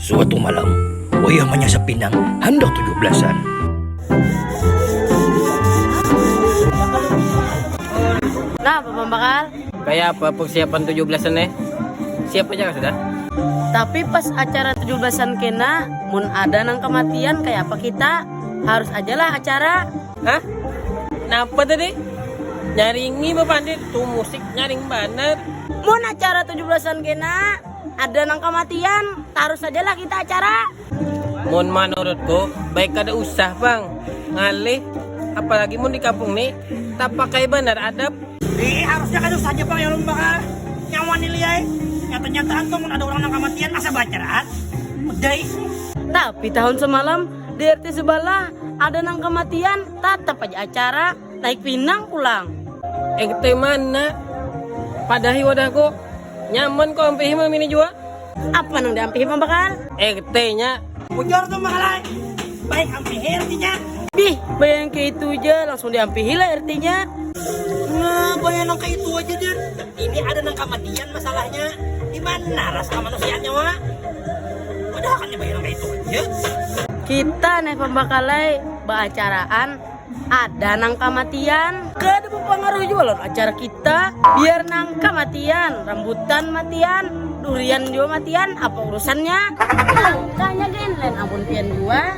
Suatu malam, wayah manyasap pinang handak tujuh belasan. Napa pang bakal? Kaya apa persiapan tujuh belasan ne? Siap haja kah sudah? Tapi pas acara tujuh belasan kena, mun ada nang kematian kaya apa kita? Harus aja lah acara. Hah? Napa tadi? Nyaring mie bapandir tuh musik nyaring banar. Mun acara 17-an kena ada nang kamatian, tarus aja lah kita acara. Mun manurutku baik kada usah pang, ngalih apalagi mun di kampung ni tapakai banar adab. Iih harusnya kada usah ja pang yang membakar nyawa ni Li ai, nyata-nyataan tuh mun ada urang nang kamatian asa baacaraan, udah ih. Tapi tahun semalam Di RT sebalah ada nang kamatian, tatap aja acara naik pinang pulang. RT mana? Padahi wadahku. Nyaman ko ampihi malam ini jua. Apa nang diampihi Pang Bakar? RT nya. Bujur tu mahalai. Baik ampihi RT nya. Dih, baya nang kaya itu ja langsung diampihi lah RT nya. Nah, baya nang kaya itu aja deh. Ini ada nang kamatian masalahnya dimana rasa kamanusiaannya wa padahal kan nyabain nang kaitu aja. Kita neh pambakalai baacaraan ada nang kamatian. Kada bapangaruh jua lawan acara kita, biar nang kamatian, rambutan matian, durian jua matian apa urusannya. Kanya gin lain amun pian jua.